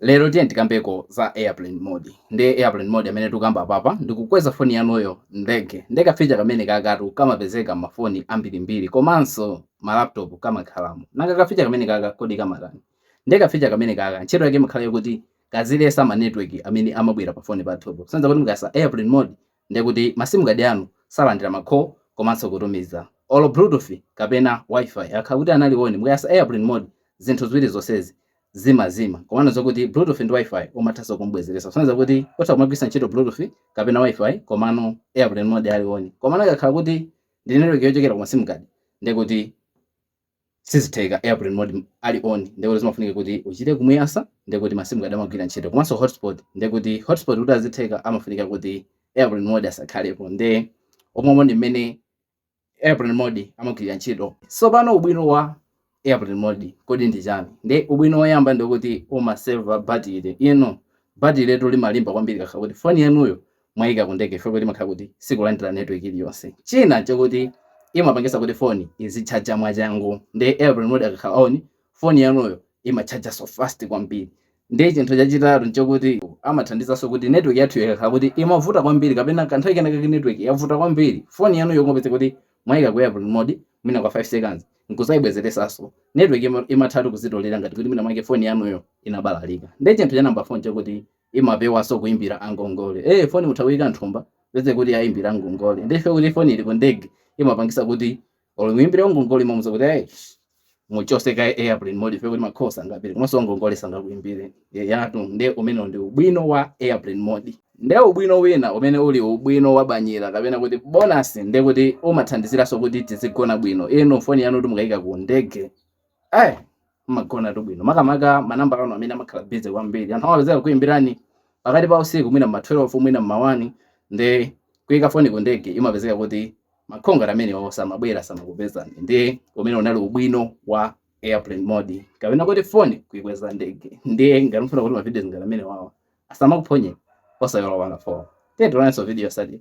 Lero tiyeni tikambeko za airplane mode. Nde airplane mode amene tikukamba apapa ndi kukweza foni yanuyo m'ndege. Nde ka feature kamenekakatu kamapezeka m'mafoni ambirimbiri komanso ma laptop kamakhalamo. Nanga ka feature kamenekaka kodi kamatani? Nde ka feature kamenekaka ntchito yake imakhala yoti kaziletsa ma network amene amabwera pafoni pathupo. Kusonyeza kuti mukayatsa airplane mode Ndiye kuti ma sim card anu salandira ma call komanso kutumiza. Olo bluetooth kapena WiFi akakhala kuti anali on mukayatsa airplane mode zinthu ziwiri zonsezi zimazima. Komano zokuti bluetooth ndi WiFi umathanso kum'bwezeretsa. Kusonyeza kuti utha kumagwiritsa ntchito bluetooth kapena WiFi komano airplane mode ali on. Komano ikakhala kuti ndi network yochokera ku ma sim card ndiye kuti sizitheka airplane mode ali on ndekuti zimafunika kuti uchite kumuyatsa ndekuti ma sim card amagwira ntchito komanso hotspot ndekuti hotspot kuti azitheka amafunika kuti airplane mode asakhalepo nde omwemo ndi mmene airplane mode amagwirira ntchito tsopano ubwino wa airplane mode kodi ndi chani nde ubwino woyamba ndekuti umaseva batire inu batiretu limalimba kwambiri ikakhala kuti foni yanuyo mwaika ku ndege chifukwa kuti imakhala kuti sikulandira network iliyonse china chakuti imapangisa kuti foni izitchaja mwachangu nde airplane mode akakhala on foni yanuyo imatchaja so fast kwambiri nde chinthu chachitatu nchakuti amathandizanso kuti network yathu ikakhala kuti imavuta kwambiri kapena kanthawi kenakake network yavuta kwambiri foni yanuyo kungopeza kuti mwaika ku airplane mode mwina kwa 5 seconds nkuzaibwezeresanso network imathatu kuzitolera ngati kuti mwina mwake foni yanuyo inabalalika nde chinthu cha namba 4 nchakuti imapewaso kuimbira angongole ee foni mutha kuyika m'thumba kupezeka kuti yaimbira angongole nde chifukwa kuti foni ili ku ndege imapangisa kuti olo muimbire wangongole imamuza kuti ee muchose kaye airplane mode chifukwa kuti ma calls sangapite komanso wangongole sangakuimbire ayitu nde umenewo ndi ubwino wa airplane mode nde ubwino wina umene uli ubwino wa banyira kapena kuti bonasi nde kuti umathandiziraso kuti tizigona bwino inu foni yanuyo mukayika ku ndege eh mmagonatu bwino makamaka manamba anu amene amakhala busy kwambiri anthu amapezeka kuimbirani pakati pa usiku mwina mma 12 mwina mma 1 nde kuyika foni ku ndege imapezeka kuti ma call ngati amenewo samabwera samakupezani ndiye umenewo unali ubwino wa airplane mode kapena kuti foni kuikweza ndege ndiye ngati mufuna kuti mavidiyo ngati amenewawa asamakuphonye osaiwala kupanga follow tetulanso video sadi